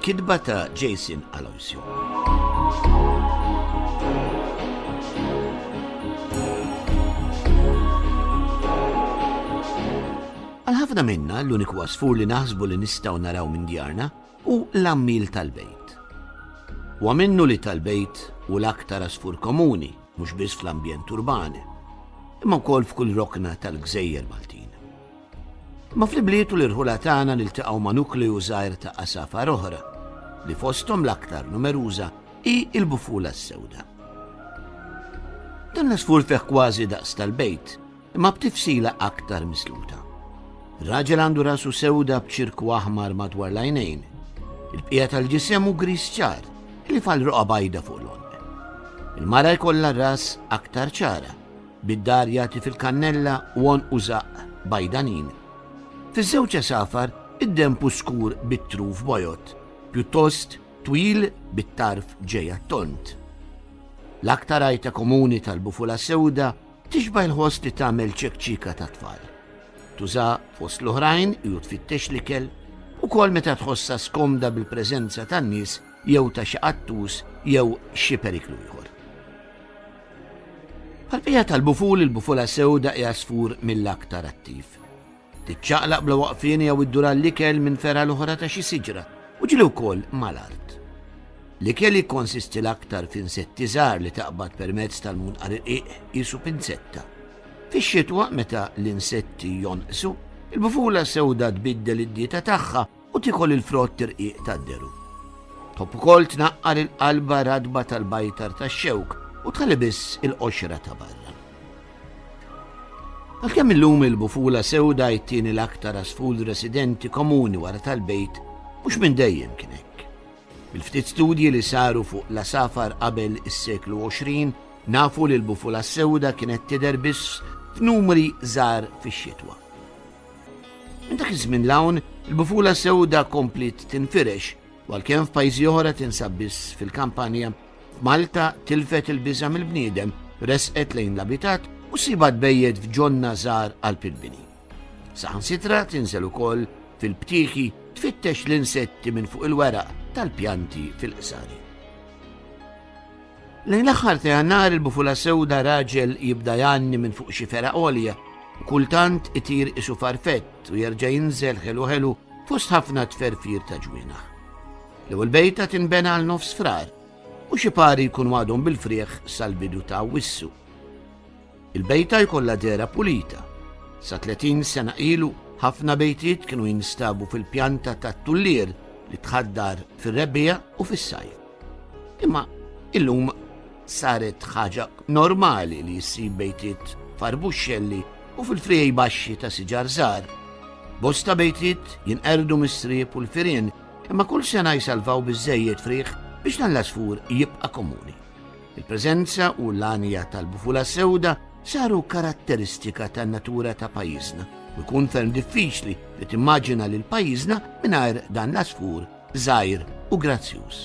Kitba ta' Jason Aloisio. Għal ħafna minna, l-uniku għasfur li naħsbu li nistgħu naraw minn djarna hu l-għammiel tal-bejt. Huwa minnu li tal-bejt hu l-aktar għasfur komuni, mhux biss fl-ambjent urban, imma wkoll f'kull rokna tal-gżejjer Maltin. Ma fl-ibliet u l-irħula tagħna niltaqgħu ma' nukleju żgħir ta' għasafar oħra, li fosthom l-aktar numeruża hi l-bufula s-sewda. Dan l-għasfur fih kważi daqs tal-bejt, imma b'tifsila aktar misluta. Raġel għandu rasu sewda b'ċirku aħmar madwar l-għajnejn. Il-bqija tal-ġisem u gris ċar, li fal roqa bajda fuq l-onq. Il-mara jkollha ras aktar ċara, Bid-dar jagħti fil-kannella u għonqu żaqq bajdanin. Fiż-żewġ għesafar id-denb hu skur bit-truf bojod, pjuttost twil bit-tarf ġej għat-tond. L-aktar għajta komuni tal-bufula sewda tixbah il-ħoss li tagħmel ċekċika tat-tfal. Tuża fost l-oħrajn hi u tfittex l-ikel, ukoll meta tħossha skomda bil-preżenza tan-nies jew ta' xi qattus jew xi periklu ieħor. Għal-bija tal-buful il-bufula sewda hija sfur mill-aktar attiv. Tiċċaqlaq bla waqfien jew iddur għall-ikel minn ferha l-oħra ta' xi siġra u ġili wkoll mal-art. L-ikel jikkonsisti l-aktar f'insetti żgħar li taqbad permezz tal-munqar irqiq jisu pinzetta. Fix-xitwa meta l-insetti jonqsu, il-bufula sewda tbiddel id-dieta tagħha u tikol il-frott tirqiq tad-deru. Top ukoll tnaqqar il-qalba radba tal-bajtar tax-xewk u tħalli biss il-qoxra ta' barra. Għalkemm illum il-bufula sewda jittieni l-aktar asful residenti komuni wara tal-bejt mhux minn dejjem kien hekk. Il-ftit studji li saru fuq la safar qabel is-seklu 20 nafu li l-bufula sewda kienet tidher biss f'numri żgħar fix-xitwa. Minn dak iż-żmien l-hawn, il-bufula sewda komplit tinfirex, għalkemm f'pajjiżi oħra tinsab biss fil-kampanja. Malta tilfet il-biża mill-bniedem, resqet lejn l-abitat u siba tbejjed f'ġonna żgħar għal pilbini. Saħansitra tinżel ukoll fil-btieħi tfittex l-insetti minn fuq il-weraq tal-pjanti fil-qsari. Lejn l-aħħar ta' Jannar il-bufula sewda raġel jibda jgħanni minn fuq xi fergħa għolja. Kultant itir isu farfett u jerġa' jinżel ħelu ħelu fost ħafna tferfir ta' ġwienaħ. L-ewwel bejta tinbena għal nofs frar u xi pari jkun għadhom bil-frieħ sal-bidu ta' wissu. Il-bejta jkollha dehra pulita. Sa 30 sena ilu, ħafna bejtiet kienu jinstabu fil-pjanta tat-tullier li tħaddar fir-rebbiegħa u fis-sajf. Imma illum saret ħaġa normali li jissib bejtiet farbuxxelli u fil-frijej baxxi ta' siġar żgħar. Bosta bejtiet jinqerdu mis-sriep u l-firien imma kull sena jsalvaw biżejjed friħ biex dan l-asfur jibqa' komuni. Il-preżenza u l-għanja tal-bufula sewda saru karatteristika tan-natura ta' pajjiżna u jkun ferm diffiċli li timmaġina lil pajjiżna mingħajr dan l-asfur żgħir u grazzjuż.